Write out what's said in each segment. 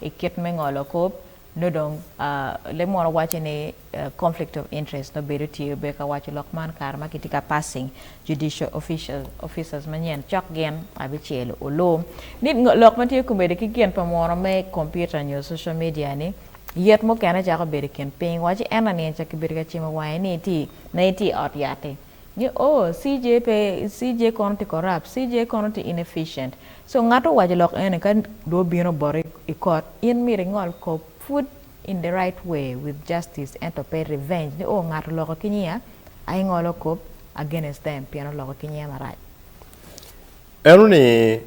I kit me ngolo kop nongo dong leb munu waco ni conflict of interest nongo bedo tye obe ka waco lok man kare ma kitye ka passing judicial officers manyen cok gin abicel olu ni lok ma tye komedo ki gin pa munu me computer nyo social media ni yet mukene cako bedo i kin piny waci en lanining ca kibedo ka cimo wange ni itye nongo itye i ot yat-ti. ni ooh CJ pe CJ kono tye corrupt CJ kono tye inefficient so ngat owaco lok eni ka dong obino boti i kot in myero ingol kop pud in the right way with justice ento pe revenge ni ooh ngat oloko ki nyinga aye ingolo kop against them pien oloko ki nyinga marac. Eno ni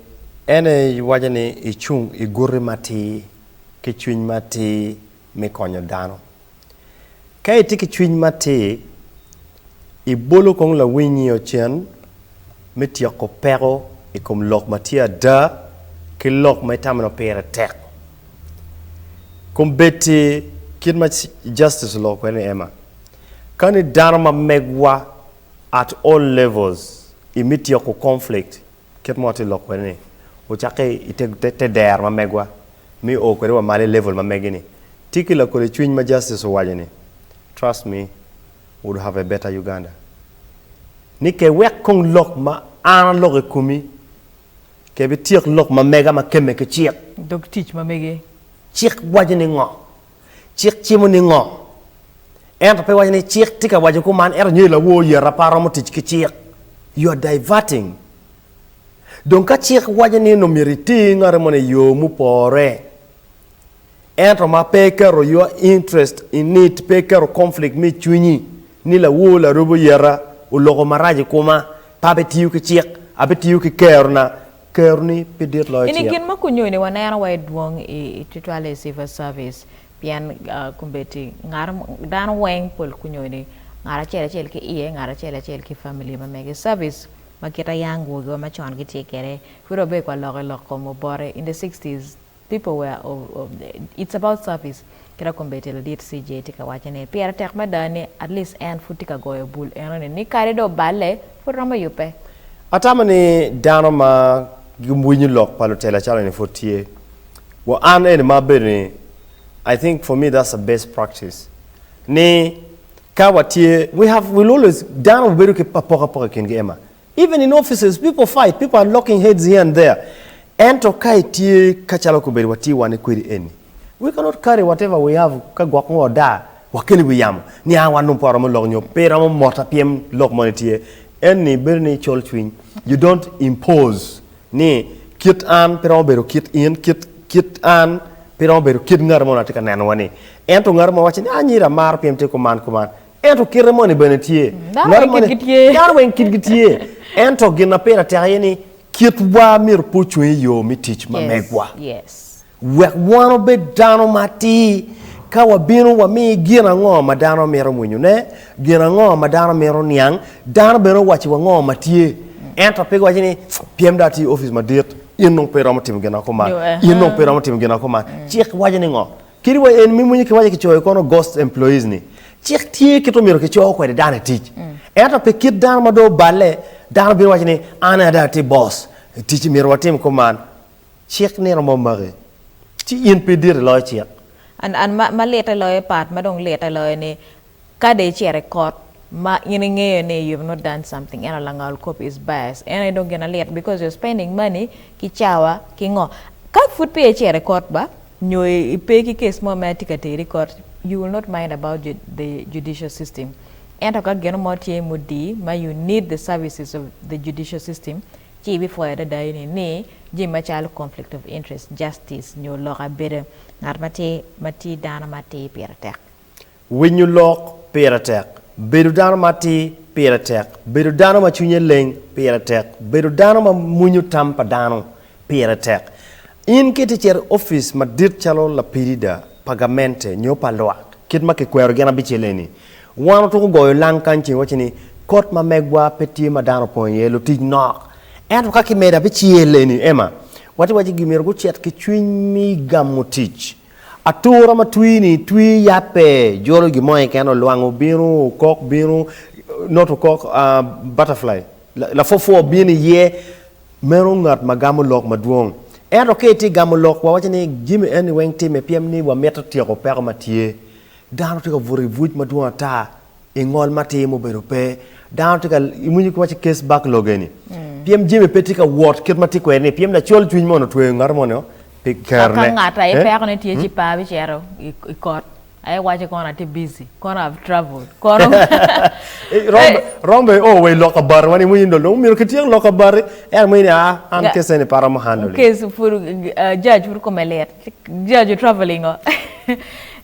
en aye iwaco ni icung iguti matir ki cwiny matir. me konyo dano. Ka itye ki cwiny matir, ibolo kong lawinyio cen me tyeko peko i kom lok ma tye ada ki lok ma itamo ni opire tek. Kombeddi kit ma Justice oloko kwede ni Emma, Ka ni dano ma megwa at all levels imi tyeko conflict, Kit mo atye lok kwede ni wucakke i te dero ma megwa me o kwede wa malo i level ma megi ni. Tye ki lakole cwiny ma Justice owaco ni, Trust me, would have a better Uganda. Ni ke wek kong lok ma an aloko i komi, ke bityek lok ma mega ma kemme ki cik. Dog tic ma mege. Cik waco ni ngo? Cik cimo ningo? Ento pe iwaco ni cik tye ka waco kuman ento nyo i lawor yat apa romo tic ki cik? You are diverting. Dong ka cik waco ni nongo myero iti ki ngati moni i yo mupore ento ma pe iketo your interest in it, pe iketo conflict me cwinyi ni lawor larubo yata oloko marac i kuma pe abitiyo ki cik, abitiyo ki kerona Keroni pe dit loyo cik. Ini gin ma kunyoni waneno wa idwong i tutwale i civil service pien kombeddi ngat dano weng pol kunyoni ngat acel acel ki iye ngat acel acel ki family ma mege i service ma kit a young gurogi wa macon gitye kede pud wabedo ka lok ilok kom obote in the sixties People were oh it's about service kit akombe tye ladit CJ tye ka waco ni pire tek mada ni at least en pud tye ka goyo bul eno ni ni kadi dong oballe pud romo yubbe. Atamo ni dano ma giwinyo lok pa lutela acalo eni pud tye. Wa an eni ma abedo ni I think for me that's the best practice ni ka watye we have will always dano wubedo ki apokapoka i kingi Emma. Even in offices people fight, people are locking heads here and there ento ka itye ka calo kobedo watye wane kwedi eni we cannot carry whatever we have ka gwok ngo odaa wakeli wi yamo ni aa wan dong pe waromo lok nyo pe iromo mota pyem lok moni tye eni bedo ni icol cwiny you don't impose ni kit an pe romo bedo kit in kit kit an pe romo bedo kit ngati mo na tye ka neno wa ni ento ngati mo wacci ni anyira amaro pyem tye kuman kuman Ento kite moni bene tye. Dano weng kitgi tye. Ento gin ma pire tek aye ni kitwa myero pe ocung i yo me tic ma megwa. Wek wan obed dano matir ka wabino wami gin ango ma dano mito mwinyone, gin ango ma dano mito niang, dano bene owaciwa ango ma tye. Ento pe giwaci ni pien dong atye i opic madit in dong pe iromo timo gin ma kuman, in dong pe iromo timo gin ma kuman. Cik waco ni ngo? Kadi wa en me mwenye kiwaco kicoyo kono ghost employees ni cik tye kit omyero kico kwede dano i tic ento pe kit dano ma dong oballe dano bino waco ni an aye adong atim boss tic myero watim kong man cik ni romo maki ci in pe idit i loyo cik. An an ma ma lite loyo part ma dong lite loyo ni Ka dong icito i kot ma in ingeyo ni you've not done something ento langol kop is biased en aye dong gina lit because you're spending money ki cawa ki ngo. Ka pud peya icito i kot ba nyo ipe ki case mo ma atye ka teri i kot you will not mind about the judicial system ento ka gino mo tye mudii ma you need the services of the judicial system ci ibipwoyo adada ini ni jami macalo conflict of interest, justice nyo lok abeda ngat ma tye dano ma atir pire tek. Winyo lok pire tek. Bedo dano ma atir pire tek. Bedo dano ma cwinye leng pire tek. Bedo dano ma mwinyo tam pa dano pire tek. In ka itye ka cito i opic madit calo lapirida pa gamente nyo pa lwak, kit ma kikwero gin abicel eni, wan otwoko goyo lang kany ceng waco ni, Kot ma megwa pe tye ma dano opong iye, lutic nok. Ento ka kimedo abicel eni, Emma, watye ka waco ni gimyero gucit ki cwiny me gamo tic. Atura ma twi ni twi yat pe jolo gin mo keken olwango bino okok bino not okok butterfly lapwopwo bino iye meno ngat ma gamo lok madwong ento ka itye gamo lok wawaco ni jami eni weng time pien ni wamito tyeko peko ma tye dano tye ka buto i buc madwong ata i ngol ma tye mubedo pe dano tye ka iwinyo kiwaci case backlog eni pien jami pe tye ka wot kit ma tye kwede ni pien lacol cwiny mo ni otweyo ngato mo ni pi Ka kerone ngat aye Eh? peko ne tye ci pa bicito i i kot. Aye waco kono atye busy, kono I've travelled, kono Eh, rombe rombe o wa i lok kabati wan iwinyo dong dong myero kityek lok kabati ento mo ni aa an Ga- case eni pe aromo handle-li. case pud uh, judge pud kome lit. Judge traveling o.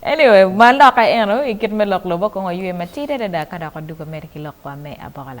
anyway, ma lokke eno, i kit me lok lobo kong waywe matidi adada ka dok wadugo mere ki lok wa me abola.